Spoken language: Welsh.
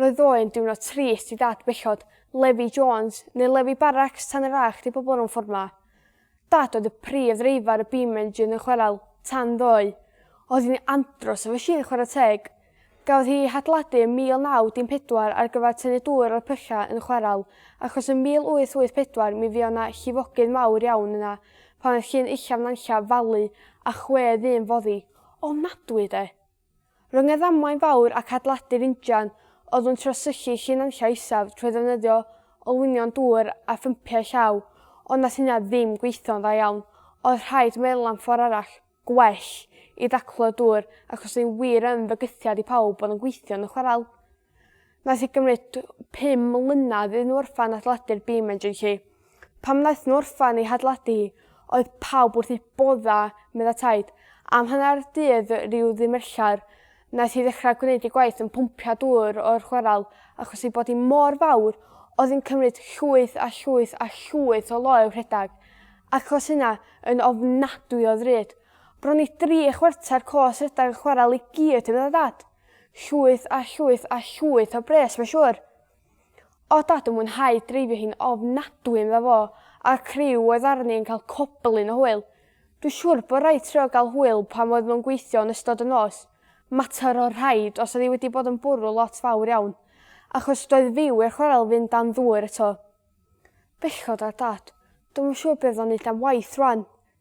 Roedd o'n diwrnod trist i dad bechod, Levi Jones, neu Levi Barracks tan yr âch di pobl rhwng ffordd ma. Dad oedd y prif ddreifar y beam engine yn chwerel, tan ddoe. Oedd hi'n andros o fachine chwarae teg. Gafodd hi ei hadeiladu yn 1914 ar gyfer tynnu dŵr o'r pylla yn chwerel, achos yn 1884 mi fuodd na llifogydd mawr iawn yna pan oedd llun uchaf Nanlla falu a chwe ddyn foddi. Ofnadwy de! Rhwng y ddamwain fawr ac adeiladu'r injan, oeddwn trio sychu llun anlla isaf trwy ddefnyddio olwynion dŵr a phympiau llaw, ond nath hynna ddim gweithio'n dda iawn. Oedd rhaid meddwl am ffordd arall, gwell, i ddaclo y dŵr, ac os o'n i wir yn fygythiad i pawb, oedd o'n gweithio yn y chwarel. Nath e gymryd tw- pum mlynadd iddyn n'w orffan adeiladu'r bîm yn Jay Cee. Pan nath n'w orffan ei hadeiladu hi oedd pawb wrth eu bodda' medda Taid. Am hannar dydd ryw ddimerchar nath hi ddechra gwneud ei gwaith yn pwmpio dŵr o'r chwaral achos ei bod hi mor fawr oedd yn cymryd llwyth a llwyth a llwyth o loew rhedag achos hynna yn ofnadwy o ddrud. Bron i dri chwarter cos rhedag y chwaral i gyd medda Dad. Llwyth a llwyth a llwyth o bres mae'n siŵr. O dad yn mwynhau dreifio hi'n ofnadwy medda fo a'r criw oedd arni yn cael coblyn o hwyl. Dwi siŵr bod rhaid trio gael hwyl pan oedd nhw'n gweithio yn ystod y nos. Mater o rhaid os oedd hi wedi bod yn bwrw lot fawr iawn. Achos doedd fyw i'r chwarel fynd dan ddŵr eto. Bechod ar dad. Dwi'm yn siŵr be' fydd o'n neud am waith rwan.